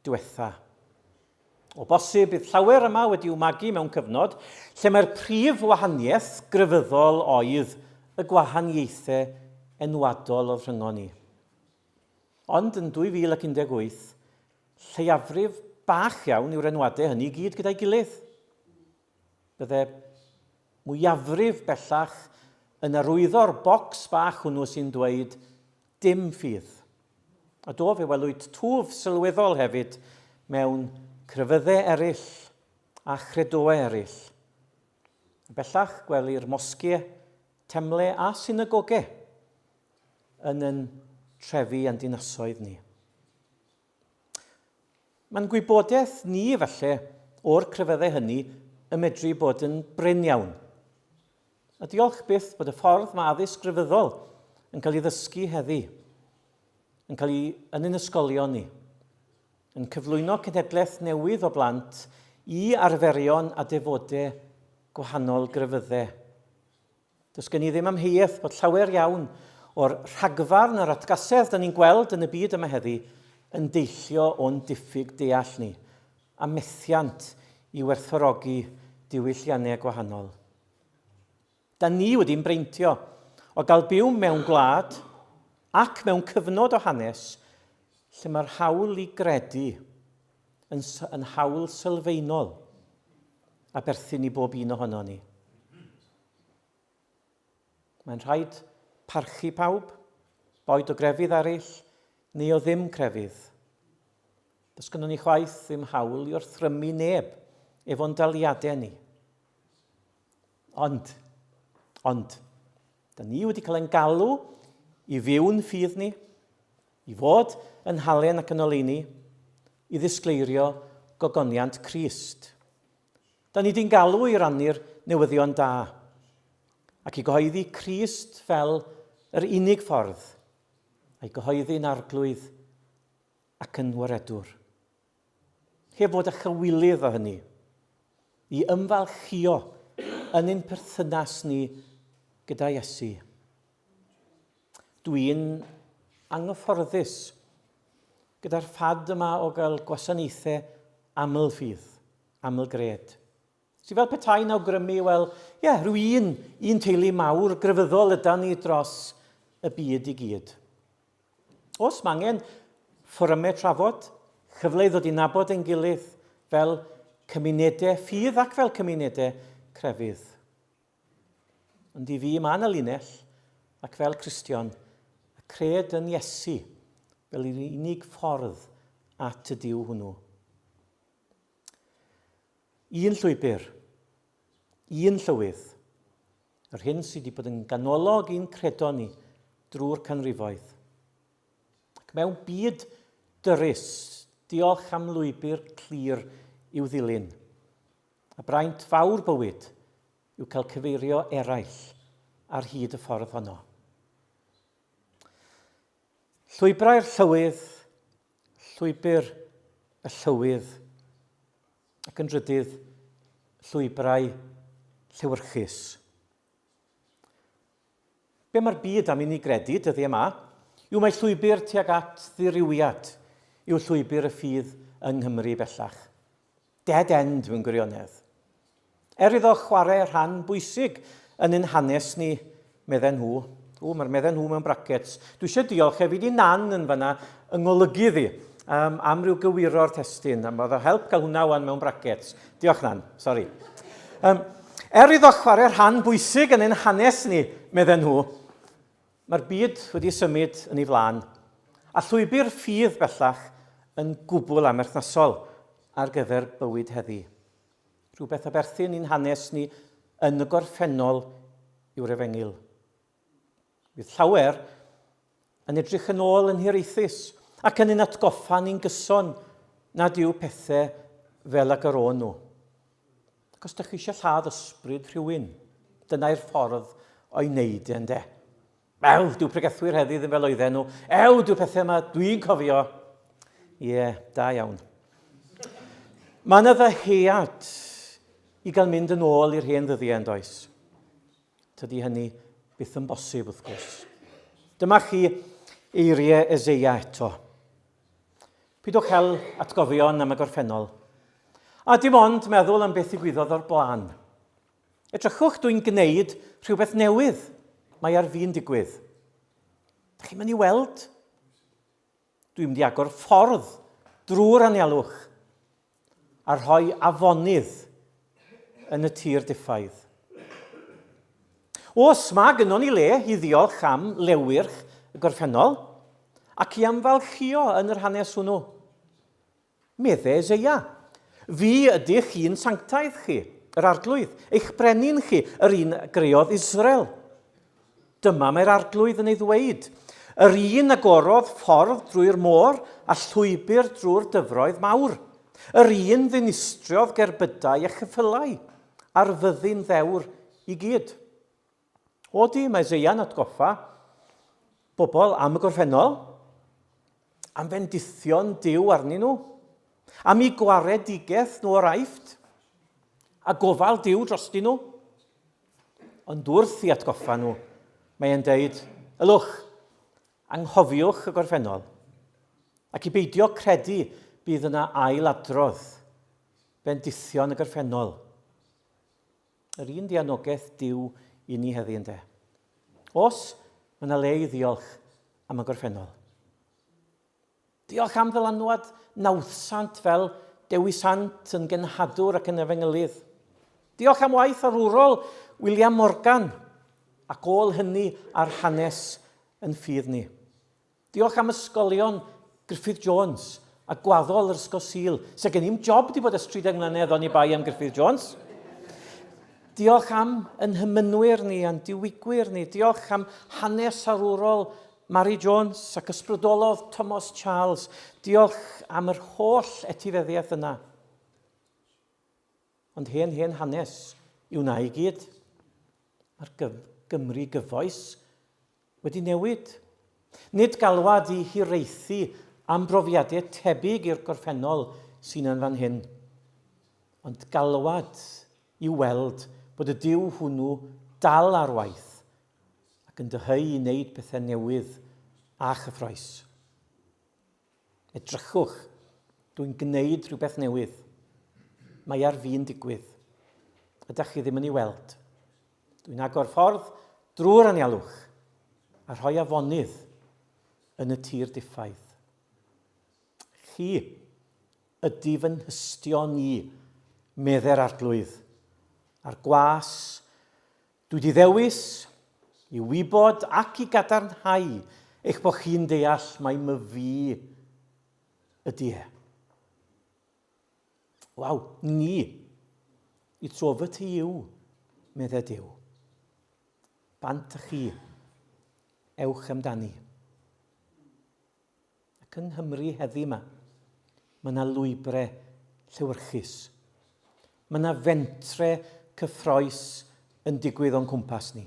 diwetha. O bosib, bydd llawer yma wedi'u magu mewn cyfnod lle mae'r prif wahaniaeth grefyddol oedd y gwahaniaethau enwadol oedd rhyngon ni. Ond yn 2018, lleiafrif bach iawn yw'r enwadau hynny i gyd gyda'i gilydd. Bydde mwyafrif bellach yn arwyddo'r bocs bach hwnnw sy'n dweud 'dim ffydd'. A do, fe welwyd twf sylweddol hefyd mewn crefyddau eraill a chredoau eraill. Yn bellach, gwelir mosgiau, temle a synagogau yn yn trefi a'n dinasoedd ni. Mae'n gwybodaeth ni efallai o'r crefyddau hynny y medru bod yn brin iawn. A diolch byth bod y ffordd mae addysg grefyddol yn cael ei ddysgu heddi, yn cael ei yn yn ysgolion ni, yn cyflwyno cenhedlaeth newydd o blant i arferion a defodau gwahanol grefyddau. Does gen i ddim amheuaeth bod llawer iawn o'r rhagfarn a'r atgasedd dyn ni'n gweld yn y byd yma heddi yn deillio o'n diffyg deall ni, a methiant i werthfawrogi diwylliannau gwahanol. Da ni wedi'n breintio o gael byw mewn gwlad ac mewn cyfnod o hanes lle mae'r hawl i gredu yn, yn hawl sylfaenol a berthyn i bob un ohono ni. Mae'n rhaid parchu pawb, boed o grefydd eraill neu o ddim crefydd. Does gynnon ni chwaith ddim hawl i orthrymu neb efo'n daliadau ni. Ond, ond, da ni wedi cael ein galw i fyw'n ffydd ni, I fod yn halen ac yn oleuni, i ddisgleirio gogoniant Crist. Da ni di'n galw i rannu'r newyddion da, ac i gyhoeddi Crist fel yr unig ffordd, a'i gyhoeddi'n arglwydd ac yn waredwr. Heb fod â chywilydd o hynny, i ymfalchïo yn ein perthynas ni gyda Iesu. Dwi'n anghyfforddus gyda'r ffad yma o gael gwasanaethau aml-ffydd, aml-gred. Sy'n fel petai'n awgrymu, wel, ie, yeah, rhyw un, un teulu mawr grefyddol yda ni dros y byd i gyd. Os mae angen, fforymau trafod, cyfle i ddod i nabod ein gilydd fel cymunedau ffydd ac fel cymunedau crefydd. Ond i fi mae yna linell, ac fel Cristion, y cred yn Iesu fel yr unig ffordd at y Dyw hwnnw. Un llwybr. Un llywydd. Yr hyn sydd wedi bod yn ganolog i'n credo ni drwy'r canrifoedd. Ac mewn byd dyrus, diolch am lwybr clir i'w ddilyn. A braint fawr bywyd yw cael cyfeirio eraill ar hyd y ffordd honno. Llwybrau'r llywydd Llwybr y Llywydd ac yn drydydd llwybrau llewyrchus. Be mae'r byd am i ni gredu dyddiau yma yw mae llwybr tuag at ddirywiad yw llwybr y ffydd yng Nghymru bellach. Dead end mewn gwirionedd. Er iddo chwarae rhan bwysig yn ein hanes ni, medden nhw. Ww, mae'r medden nhw mewn brackets. Dwi eisiau diolch hefyd i Nan yn fanna yng ngolygu iddi um, am ryw gywiro'r testyn. Am oedd o help cael hwnna wan mewn brackets. Diolch Nan, sori. Um, er iddo chwarae rhan bwysig yn ein hanes ni, medden nhw, Mae'r byd wedi symud yn ei flaen, a llwybr ffydd bellach yn gwbl amherthnasol ar gyfer bywyd heddi. Rhywbeth a berthyn i'n hanes ni yn y gorffennol yw'r efengyl. Bydd llawer yn edrych yn ôl yn hiraethus ac yn ein atgoffa ni'n gyson nad yw pethau fel ag yr o'n nhw. Ac os dych chi eisiau lladd ysbryd rhywun, dyna i'r ffordd o'i wneud e, ynde? Wel, dyw pregethwyr heddi ddim fel oedden nhw. Ew, dyw pethau yma, dwi'n cofio. Ie, yeah, da iawn. Mae yna ddyhead i gael mynd yn ôl i'r hen ddyddiau yn does. Tydy hynny byth yn bosib, wrth gwrs. Dyma chi eiriau Ezeia eto. Pidwch cael atgofion am y gorffennol. A dim ond meddwl am beth ddigwyddodd o'r blaen. Edrychwch, dwi'n gwneud rhywbeth newydd. Mae ar fi'n digwydd. Da chi'n mynd i weld? Dwi'n mynd i agor ffordd drwy'r anialwch. a rhoi afonydd yn y tir diffaidd. Os mae gynnon ni le i ddiolch am lewyrch y gorffennol ac i amfalchio yn yr hanes hwnnw, medde Eseia, fi ydych chi'n sanctaidd chi, yr arglwydd, eich brenin chi, yr un greodd Israel. Dyma mae'r Arglwydd yn ei ddweud, yr un a gorodd ffordd drwy'r môr a llwybr drwy'r dyfroedd mawr, yr un ddinistriodd gerbydau a cheffylau ar fyddin ddewr i gyd. O di, mae Isaiah'n atgoffa bobl am y gorffennol, am fendithion diw arnyn nhw, am i gwaredigaeth nhw o'r aifft, a gofal diw drostyn nhw. Ond wrth i atgoffa nhw, mae e'n deud, ylwch, anghofiwch y gorffennol, ac i beidio credu bydd yna ail adrodd, bendithion y gorffennol. Yr un dianogaeth diw i ni heddi ynddo. Os mae yna le i ddiolch am y gorffennol. Diolch am ddylanwad nawddsant fel dewisant yn genhadwr ac yn efengylydd. Diolch am waith arwrol William Morgan ac ôl hynny ar hanes yn ffydd ni. Diolch am ysgolion Griffith Jones a gwaddol yr Ysgol Sul, se gen i'm job di bod ers 30 mlynedd oni bai am Griffith Jones. Diolch am yn hymynwyr ni a'n diwigwyr ni. Diolch am hanes arwrol Mari Jones ac ysbrydolodd Tomos Charles. Diolch am yr holl etifeddiaeth yna. Ond hen hen hanes yw na i gyd. Mae'r Gymru gyfoes wedi newid. Nid galwad i hiraethu am brofiadau tebyg i'r gorffennol sy'n yn fan hyn, ond galwad i weld bod y Duw hwnnw dal ar waith ac yn dyheu i wneud pethau newydd a chyffroes. Edrychwch, dwi'n gwneud rhywbeth newydd. Mae ar fi'n digwydd. Ydych chi ddim yn ei weld. Dwi'n agor ffordd drwy'r anialwch a rhoi afonydd yn y tir diffaidd. Chi ydy fy nhystio ni, medde'r arglwydd, a'r gwas Dwi 'di ddewis i wybod ac i gadarnhau eich bod chi'n deall mai my fi ydy e. Waw, ni! Y tro fy ti yw, medde Dyw. Bant chi. Ewch amdani. Ac yng Nghymru heddi 'ma, mae yna lwybre llewyrchus. Mae yna fentre cyffroes yn digwydd o'n cwmpas ni.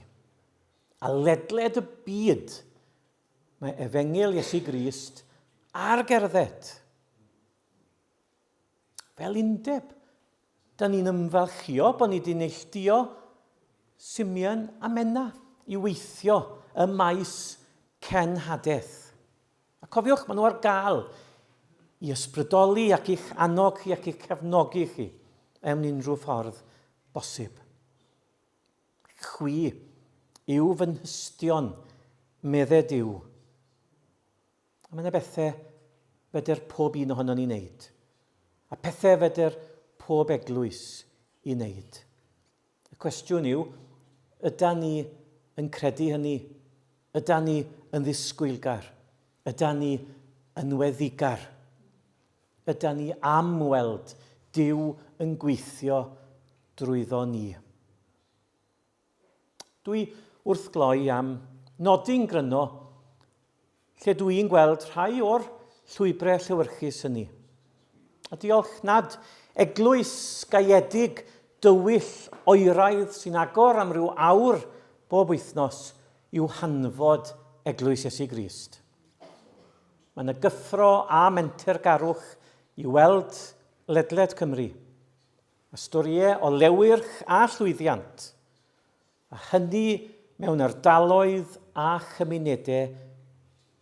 A ledled y byd, mae efengyl Iesu Grist ar gerdded. Fel undeb, da ni'n ymfalchio bod ni wedi neilltuo Simeon a Menna i weithio ym maes cenhadaeth. A cofiwch, maen nhw ar gael i ysbrydoli ac i'ch annog chi ac i'ch cefnogi chi mewn unrhyw ffordd bosib. Chwi yw fy nhystion, medded yw. A mae yna bethau fedr pob un ohono ni wneud, a pethau fedr pob eglwys i wneud. Y cwestiwn yw, yda ni yn credu hynny? Yda ni yn ddisgwylgar? Yda ni yn weddigar? Yda ni am weld Dyw yn gweithio drwyddo ni? Dwi wrth gloi am nodi'n gryno lle dw i'n gweld rhai o'r llwybrau llewyrchus hynny. A diolch nad eglwys gaeedig dywyll oeraidd sy'n agor am ryw awr bob wythnos yw hanfod Eglwys Iesu Grist. Mae yna gyffro a mentergarwch i weld ledled Cymru. a storïau o lewyrch a llwyddiant, a hynny mewn ardaloedd a chymunedau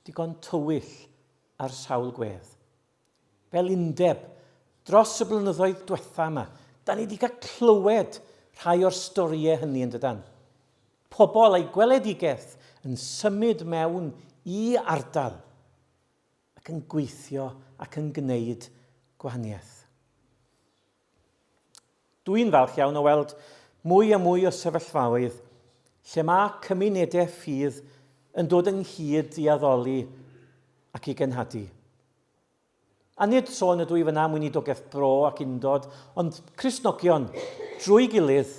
digon tywyll ar sawl gwedd. Fel undeb, dros y blynyddoedd diwetha' yma, da ni wedi cael clywed rhai o'r storïau hynny yn dydan? Pobl a'u gweledigaeth yn symud mewn i ardal, ac yn gweithio ac yn gwneud gwahaniaeth. Dw i'n falch iawn o weld mwy a mwy o sefyllfaoedd lle mae cymunedau ffydd yn dod ynghyd i addoli ac i genhadu. A nid sôn ydw i fyna am weinidogaeth bro ac undod, ond Cristnogion drwy gilydd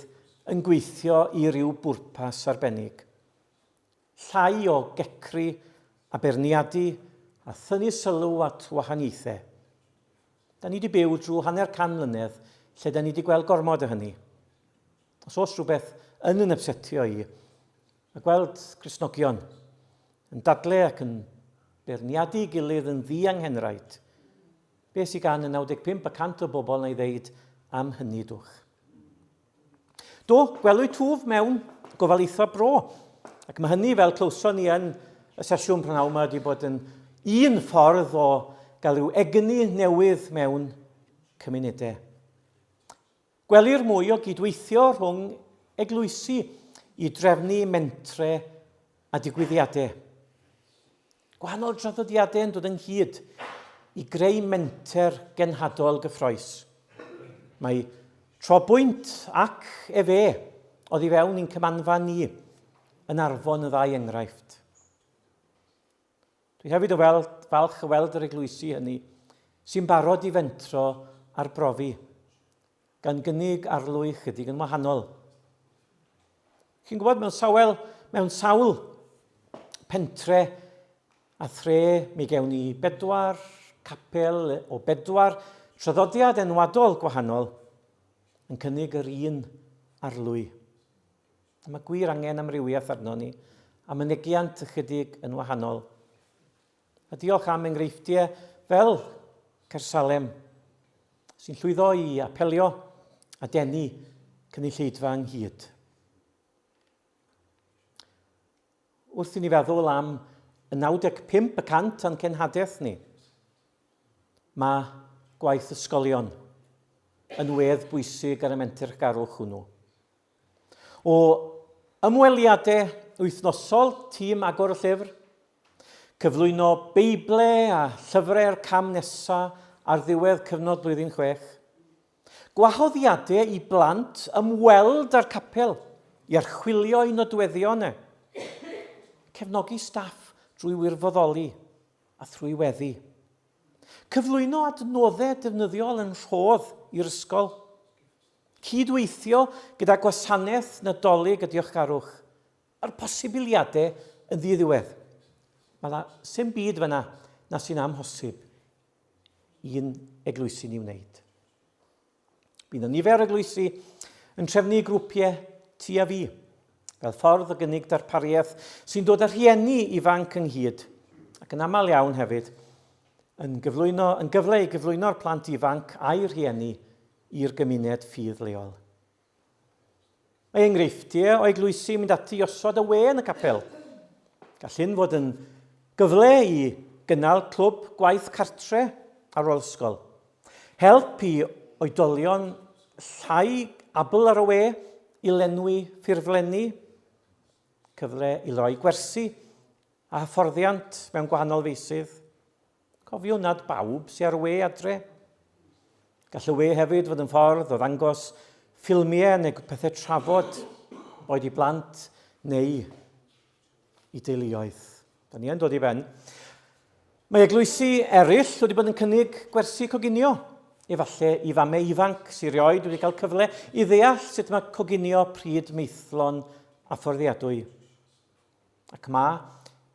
yn gweithio i ryw bwrpas arbennig. Llai o gecru a beirniadu a thynnu sylw at wahaniaethe. Da ni 'di byw drwy hanner can mlynedd lle da ni 'di gweld gormod o hynny. Os oes rhywbeth yn yn ypsetio i, mae gweld Cristnogion yn dadle ac yn beirniadu gilydd yn ddianghenraid. Be sy gan y 95 y cant o bobl na i ddeud am hynny dwch? Do, gwelwyd twf mewn gofal eitha bro. Ac mae hynny, fel clywson ni yn y sesiwn prynhawn yma, wedi bod yn un ffordd o gael rhyw egni newydd mewn cymunedau. Gwelir mwy o gydweithio rhwng eglwysi i drefnu mentre a digwyddiadau. Gwahanol draddodiadau yn dod ynghyd i greu menter genhadol gyffroes. Mae trobwynt ac efe oddi fewn i'n cymanfa ni yn arfon y ddau enghraifft. Dwi hefyd yn weld, falch y weld yr eglwysi hynny sy'n barod i fentro a'r brofi. gan gynnig arlwy ychydig yn wahanol. Chi'n gwybod, mewn sawel, mewn sawl pentre a thre, mi gewn ni bedwar capel o bedwar traddodiad enwadol gwahanol yn cynnig yr un arlwy. A mae gwir angen amrywiaeth arno ni, a mynegiant ychydig yn wahanol. A diolch am enghreifftiau fel Caersalem, sy'n llwyddo i apelio a denu cynulleidfa ynghyd. Wrth i ni feddwl am y 95 y cant o'n cenhadaeth ni, mae gwaith ysgolion yn wedd bwysig ar y mentrgarwch hwnnw. O ymweliade wythnosol tîm Agor y Llyfr, cyflwyno Beible a llyfrau'r cam nesa ar ddiwedd cyfnod blwyddyn chwech, gwahoddiade i blant ymweld â'r capel i archwilio ei nodweddion e, cefnogi staff drwy wirfoddoli a thrwy weddi, cyflwyno adnoddau defnyddiol yn rhodd i'r ysgol, Cyd-weithio gyda Gwasanaeth Nadolig a Diolchgarwch. Mae'r posibiliadau yn ddi-ddiwedd. Mae yna sy'n byd fyna na sy'n amhosib i'n eglwysi ni wneud. Bydd yna nifer eglwysi yn trefnu grwpiau ti a fi, fel ffordd o gynnig darpariaeth sy'n dod â rhieni ifanc ynghyd, ac yn aml iawn hefyd, yn gyflwyno yn gyfle i gyflwyno'r plant ifanc a'i rhieni i'r gymuned ffydd leol. Mae enghreifftiau o eglwysi yn mynd ati i osod y we yn y capel. Gall hyn fod yn gyfle i gynnal clwb gwaith cartre ar ôl ysgol. Help i oedolion llai abl ar y we i lenwi ffurflenni, cyfle i roi gwersi a hyfforddiant mewn gwahanol feisydd. Cofiwn nad bawb sy ar we adre. Gall y we hefyd fod yn ffordd o ddangos ffilmiau neu pethau trafod, boed i blant neu i deuluoedd. Da ni yn dod i ben. Mae eglwysi eraill wedi bod yn cynnig gwersi coginio. Efallai i famau ifanc sy'n rioed wedi cael cyfle i ddeall sut mae coginio pryd meithlon a fforddiadwy. Ac mae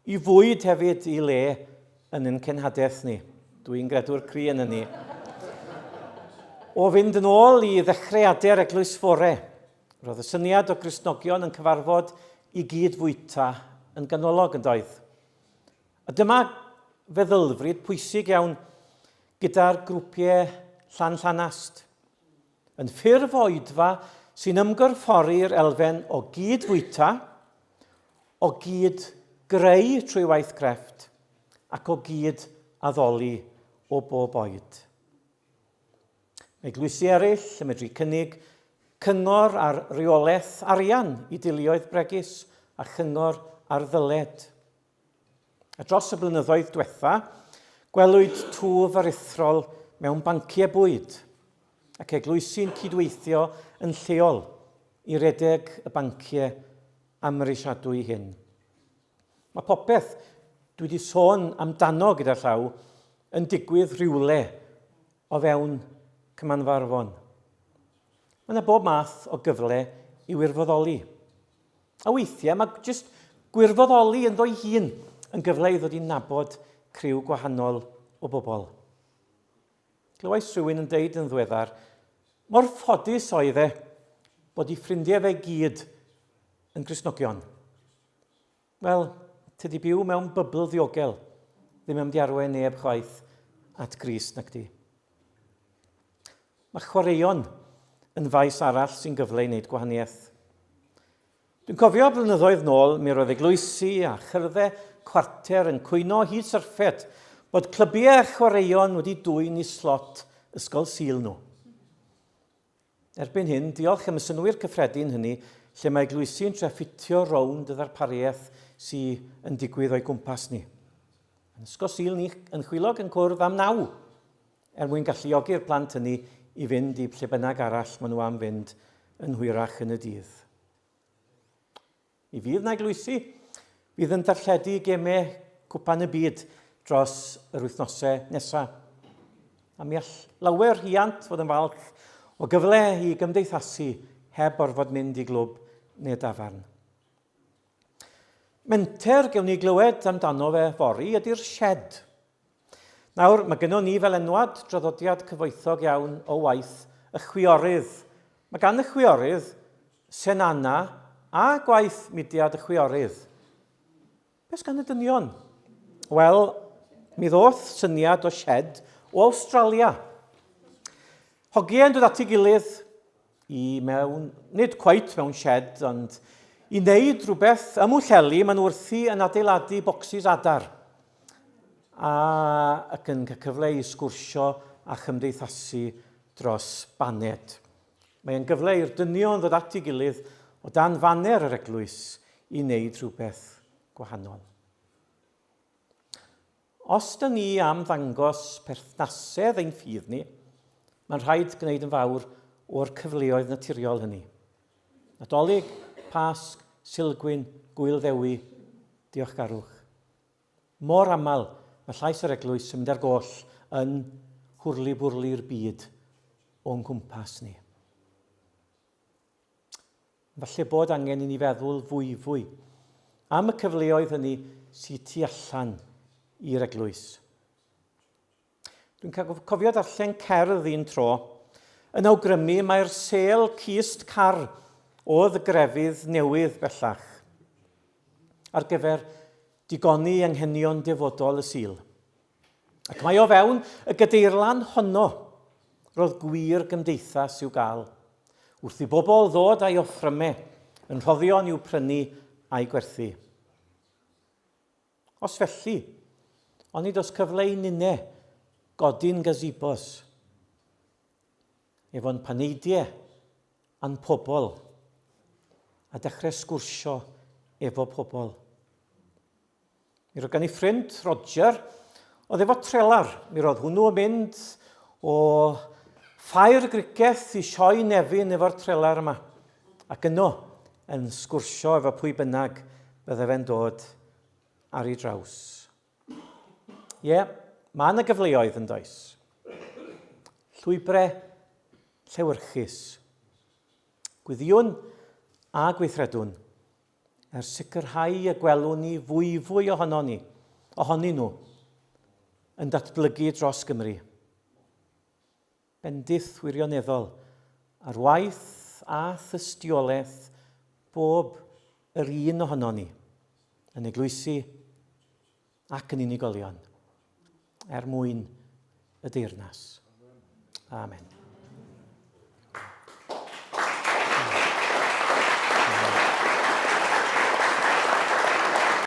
i fwyd hefyd i le yn yn cenhadaeth ni. Dwi'n gredwr cri yn ni. O fynd yn ôl i ddechreuadur Eglwys Fore, roedd y syniad o Gristnogion yn cyfarfod i gyd fwyta yn ganolog yn doedd. A dyma feddylfryd pwysig iawn gyda'r grwpiau llan llanast. yn ffurf oedfa sy'n ymgorffori'r elfen o gyd-fwyta, o gyd-greu trwy waith crefft ac o gyd-addoli o bob oed. Mae eglwysi eraill yn medru cynnig cyngor ar reolaeth arian i deuluoedd bregus a chyngor ar ddyled. A dros y blynyddoedd diwetha, gwelwyd twf aruthrol mewn banciau bwyd ac eglwysi'n cydweithio yn lleol i redeg y banciau amhrisiadwy hyn. Mae popeth dwi wedi sôn amdano gyda llaw yn digwydd rhywle o fewn Cymanfarfon. Mae yna bob math o gyfle i wirfoddoli. A weithiau mae jyst gwirfoddoli ynddo'i hun yn gyfle i ddod i nabod criw gwahanol o bobl. Glywais rhywun yn deud yn ddweddar, mor ffodus oedd e bod i ffrindiau fe gyd yn grisnogion. Wel, tydi byw mewn bybl ddiogel ddim yn diarwe neb chwaith at gris nac di. Mae chwaraeon yn faes arall sy'n gyfle i wneud gwahaniaeth. Dwi'n cofio blynyddoedd nôl, mi roedd eglwysi a chyrddau cwarter yn cwyno hyd syrffed bod clybiau chwaraeon wedi dwyn i slot ysgol Sul nhw. Erbyn hyn, diolch am y synnwyr cyffredin hynny, lle mae eglwysi yn trio ffitio rownd y ddarpariaeth sy yn digwydd o'i gwmpas ni. Yn Ysgol Sul ni, yn Chwilog yn cwrdd am naw, er mwyn galluogi'r plant hynny i fynd i lle bynnag arall maen nhw am fynd yn hwyrach yn y dydd. Mi fydd 'na eglwysi fydd yn darlledu gemau Cwpan y Byd dros yr wythnosau nesaf. A mi all lawer hiant fod yn falch o gyfle i gymdeithasu heb orfod mynd i glwb neu dafarn. Menter gewn ni glywed amdano fe fori ydy'r shed. Nawr, mae gynnon ni fel enwad draddodiad cyfoethog iawn o waith y chwiorydd. Mae gan y chwiorydd, Senana, a gwaith mudiad y chwiorydd. Beth gan y dynion? Wel, mi ddoth syniad o shed o Awstralia. Hogie yn dod at ei gilydd, i mewn, nid cweit mewn shed, ond i wneud rhywbeth ym Mwllheli, maen nhw wrthi yn adeiladu bocsys adar a ac yn cael cyfle i sgwrsio a chymdeithasu dros baned. Mae'n gyfle i'r dynion ddod at ei gilydd o dan faner yr eglwys i wneud rhywbeth gwahanol. Os dŷn ni am ddangos perthnasedd ein ffydd ni, mae'n rhaid gwneud yn fawr o'r cyfleoedd naturiol hynny. Nadolig, Pasg, Silgwyn, Gŵyl Ddewi, Diolchgarwch. Mor aml mae llais yr eglwys yn mynd ar goll yn hwrli-bwrli'r byd o'n nghwmpas ni. Falle bod angen i ni feddwl fwyfwy am y cyfleoedd hynny sydd tu allan i'r eglwys. Dwi'n cofio darllen cerdd un tro yn awgrymu mae'r sel cist car oedd y grefydd newydd bellach ar gyfer digoni anghenion defodol y Sul. Ac mae o fewn y gadeirlan honno, roedd gwir gymdeithas i'w gael, wrth i bobl ddod a'i offryme yn rhoddion i'w prynu a'i gwerthu. Os felly, onid os cyfle i ninne godin gazebos, efo'n paneidie a'n pobl, a dechrau sgwrsio efo pobl. Mi roedd gen i ffrind, Roger, oedd efo trelar. Mi roedd hwnnw yn mynd o ffair grigeth i sioe nefyn efo'r trelar yma. Ac yno, yn sgwrsio efo pwy bynnag bydde fe'n dod ar ei draws. Ie, yeah, mae yna gyfleoedd yn does. Llwybrau llewyrchus. Gwyddiwn a gweithredwn. er sicrhau y gwelwn ni fwyfwy ohonon ni, ohonyn nhw, yn datblygu dros Gymru. Bendith wirioneddol ar waith a thystiolaeth bob yr un ohonon ni, yn eglwysi, ac yn unigolion er mwyn y deyrnas. Amen.